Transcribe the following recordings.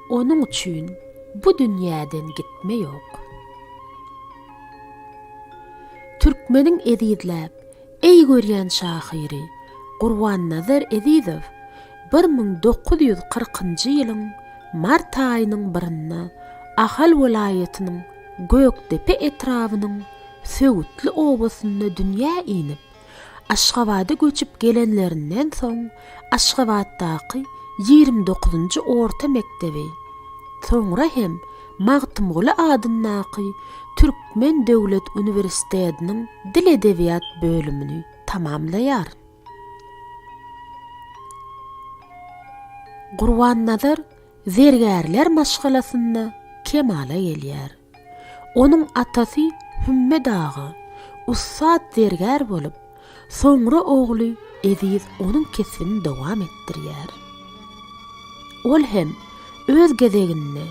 Onuň üçin bu dünýäden gitme ýok. Türkmeniň ezizläp, eý görýän şahyry Gurbannazar Ezizow bir müň dokuz ýüz kyrkynjy ýylyň mart aýynyň birinde Ahal welaýatynyň Gökdepe etrabynyň Söwütli obasynda dünýä inip, Aşgabada göçüp gelenlerinden soň Aşgabatdaky ýigrimi dokuzynjy orta mekdebi, soňra hem Magtymguly adyndaky Türkmen döwlet uniwersitediniň dil-edebiýat bölümini tamamlaýar. Gurbannazar zergärler maşgalasynda kemala gelýär. Onuň atasy Hümme dagy, ussat zergär bolup, soňra ogly Eziz onuň kesbini dowam etdirýär. Ol hem öz gezeginde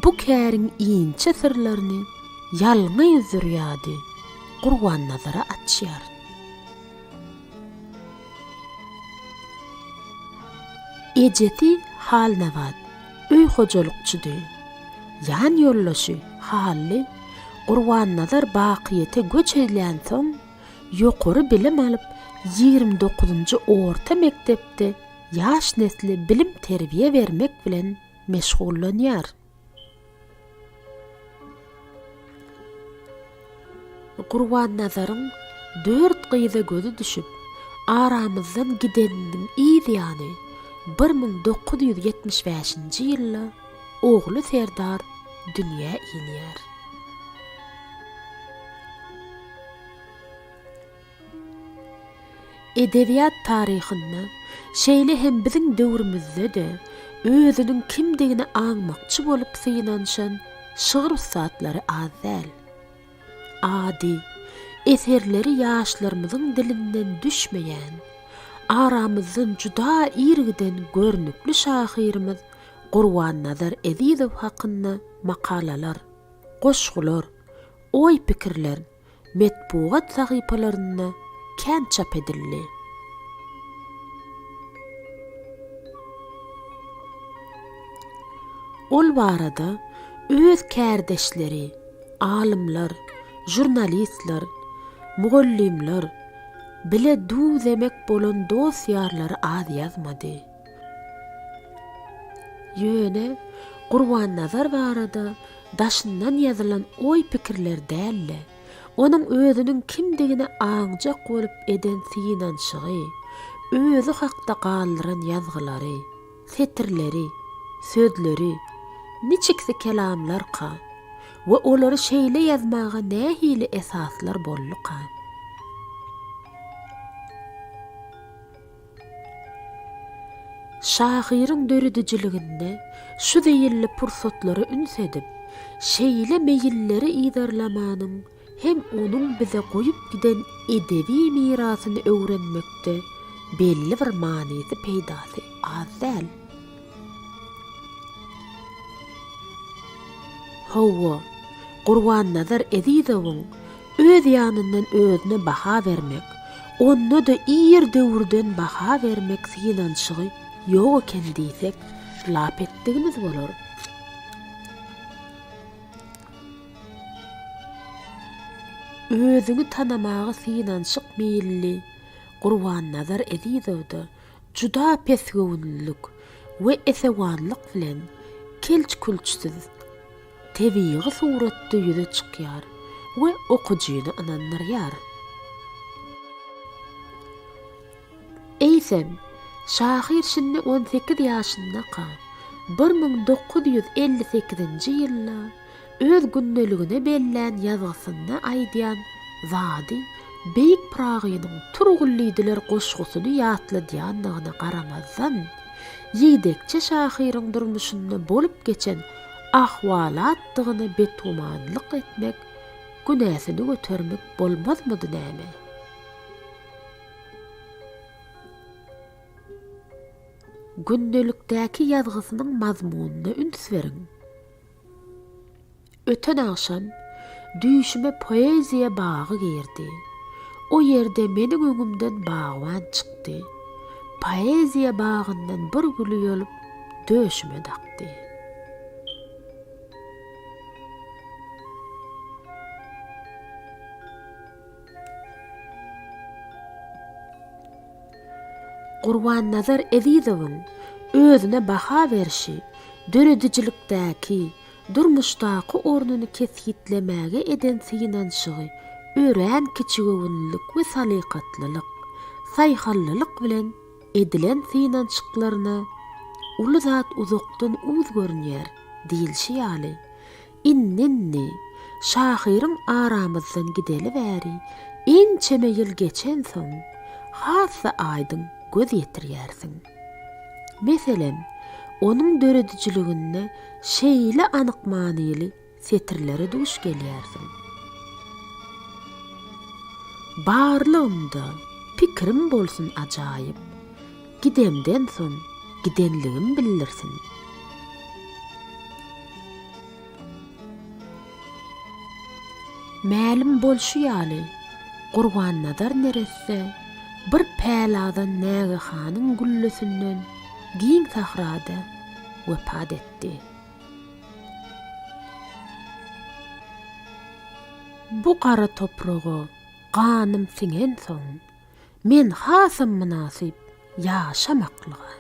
bu käriň inçe syrlaryny ýalňy zürýady Gurbannazara açýar. Ejesi Halnabat. Öý hojalykçydy. Ýan ýoldaşy Hally Gurbannazar bakyýete göç edlänsoň, ýokary bilim alyp, ýigrimi dokuzynjy orta mekdepde ýaş nesle bilim-terbiýe bermek bilen meşgullanýar. Gurbannazaryň dört gyza gözi düşüp, aramyzdan gideniniň yz ýany bir müň dokuz ýüz ýetmiş bäşinji ýylda ogly Serdar dünýä inýär. Edebiýat taryhynda, şeýle hem biziň döwrümizde-de özüniň kimdigini aňmakçy bolup synanyşan şygyr ussatlary az däl. Ady, eserleri ýaşlarymyzyň dilinden düşmeýän, aramyzdan juda ir giden görnükli şahyrymyz Gurbannazar Ezizow hakynda makalalar, goşgular, oý-pikirler, metbugat sahypalarynda kän çap edildi. Ol barada öz kärdeşleri, alymlar, žurnalistler, mugallymlar, bile duw-zemek bolan dost-ýarlary az ýazmady. Ýöne Gurbannazar barada daşyndan ýazylan oý-pikirler däl-de, onuň özüniň kimdigine aňjak bolup eden synanyşygy, özi hakda galdyran ýazgylary, setirleri, sözleri, niçiksi kelamlarka we olary şeýle ýazmaga nähili esaslar bolduka? Şahyryň döredijiliginde şu zeýilli pursatlara üns edip, şeýle meýilleri yzarlamanyň hem onuň bize goýup giden edebi mirasyny öwrenmekde belli bir manysy-peýdasy az däl. Hawa, Gurbannazar Ezizowyň öz ýanyndan özüne baha bermek, onda-da ir döwürden baha bermek synanyşygy ýok eken diýsek, lap etdigimiz bolar. Özüňi tanamaga synanyşyk meýilli Gurbannazar Ezizowda Juda pesgöwünlilik we esewanlyk bilen kelç-külçsiz, tebigy suratda ýüze çykýar we okyjyny ynandyrýar. Eýsem, şahyr şindi on sekiz ýaşyndaka, bir müň dokuz ýüz elli sekizinji ýylda, Öz gündeligine bellän ýazgysynda aýdýan zady Beýik Pyragynyň Turgullydylar goşgusyny ýatladýandygyna garamazdan, ýigdekçe şahyryň durmuşynda bolup geçen ahwalatdygyna betgümanlyk etmek, günäsini götermek bolmazmydy näme? Gündelikdäki ýazgysynyň mazmunyna üns beriň. Öten agşam düýşüme poeziýa bagy girdi. O ýerde meniň öňümden bagban çykdy. Poeziýa bagyndan bir güli ýolup döşüme dakdy. Gurbannazar Ezizowyň özüne baha berşi döredijilikdäki, durmuşdaky ornuny kesgitlemäge eden synanyşygy örän kiçigöwünlilik we salykatlylyk, saýhalllylyk bilen edilen synanyşyklaryna uly zat uzakdan uz görünýär diýilşi ýaly, Indi-indi, şahyryň aramyzdan gideli bäri ençeme ýyl geçensoň, has-da aýdyň göz ýetirýärsiň. Meselem, onuň döredijiliginde şeýle anyk manyly setirlere duş gelýärsiň. Barlygymda pikirim bolsun ajaýyp, Gidemden soň gidenligim bildirsin. Mälim bolşy ýaly, Gurbannazar neresse bir päladan nägehanyň güllesinden giň sahrada wepat etdi. Bu gara topraga ganym siňensoň, Men hasam mynasyp ýaşamaklyga.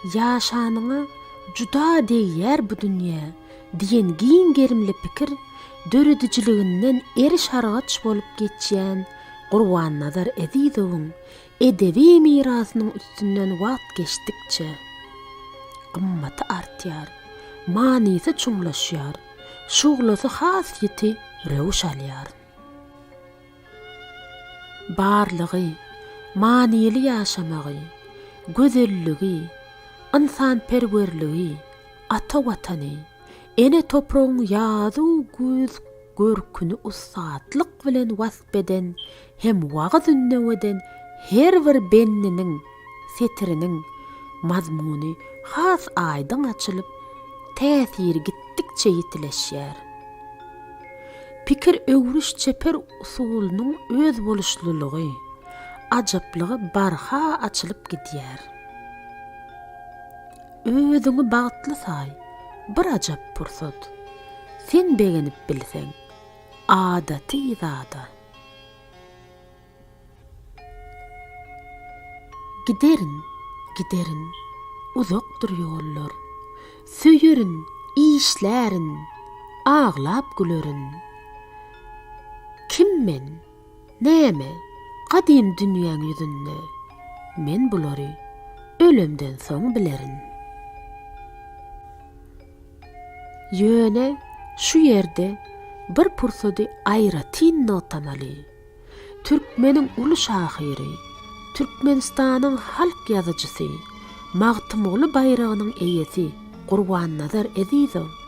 Ýaşanyňa juda degýär bu dünýä diýen giň gerimli pikir döredijiliginden eriş-argaç bolup geçýän Gurbannazar Ezizowyň Edebi mirasynyň üstünden wagt geçdikçe, gymmaty artýar, manysy çuňlaşýar, şuglasy has ýiti röwüş alýar. Barlygy, manyly ýaşamagy, gözelligi, ynsanperwerligi, ata Watany, ene topragyň ýazu-güýz görküni ussatlyk bilen wasp eden hem wagyz-ündeweden her bir bendiniň, setiriniň, mazmuny has aýdyň açylyp, täsiri gitdikçe ýitileşýär. Pikir öwrüş çeper usulynyň özboluşlylygy, ajaplygy barha açylyp gidýär. Özüňi bagtly saý, bir ajap pursat, sen begenip bilseň, adaty zada. Giderin, giderin, uzakdyr ýollar, Söýerin, işlärin, aglap gülerin. Kim men, näme, gadym dünýäň ýüzünde, Men bulary ölemden soň bilerin. Ýöne şu ýerde bir pursady aýratyn nogtamaly. Türkmeniň uly şahyry, Türkmenistanyň halk ýazyjysy, Magtymguly baýragynyň eýesi Gurbannazar Ezizow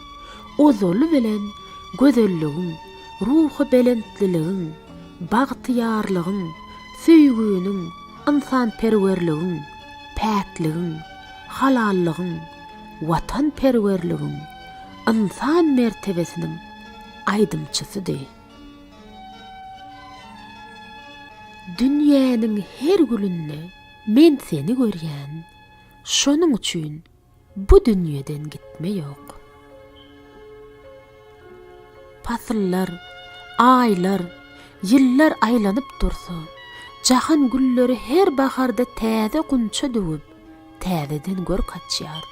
ozaly bilen gözelligiň, ruhubelentliligiň, bagtyýarlygyň, söýginiň, ynsanperwerligiň, päkligiň, halallygyň, watanperwerligiň, ynsan mertebesiniň aýdymçysydy. Dünýäniň her gülünde men seni görýän, şonuň üçin bu dünýeden gitme ýok. Pasyllar, aýlar, ýyllar aýlanyp dursa, jahan gülleri her baharda täze gunça döwüp, täzeden görk açýar.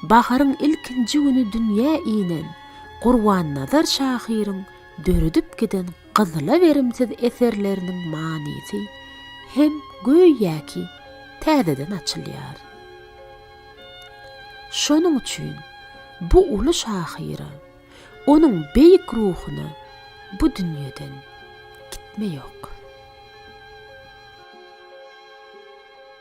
Baharyň ilkinji güni dünýä inen Gurbannazar şahyryň döredip giden gyzyla berimsiz eserleriniň manysy hem göýäki täzeden açylýar. Şonuň üçin bu uly şahyra, onuň beýik ruhuna bu dünýeden gitme ýok.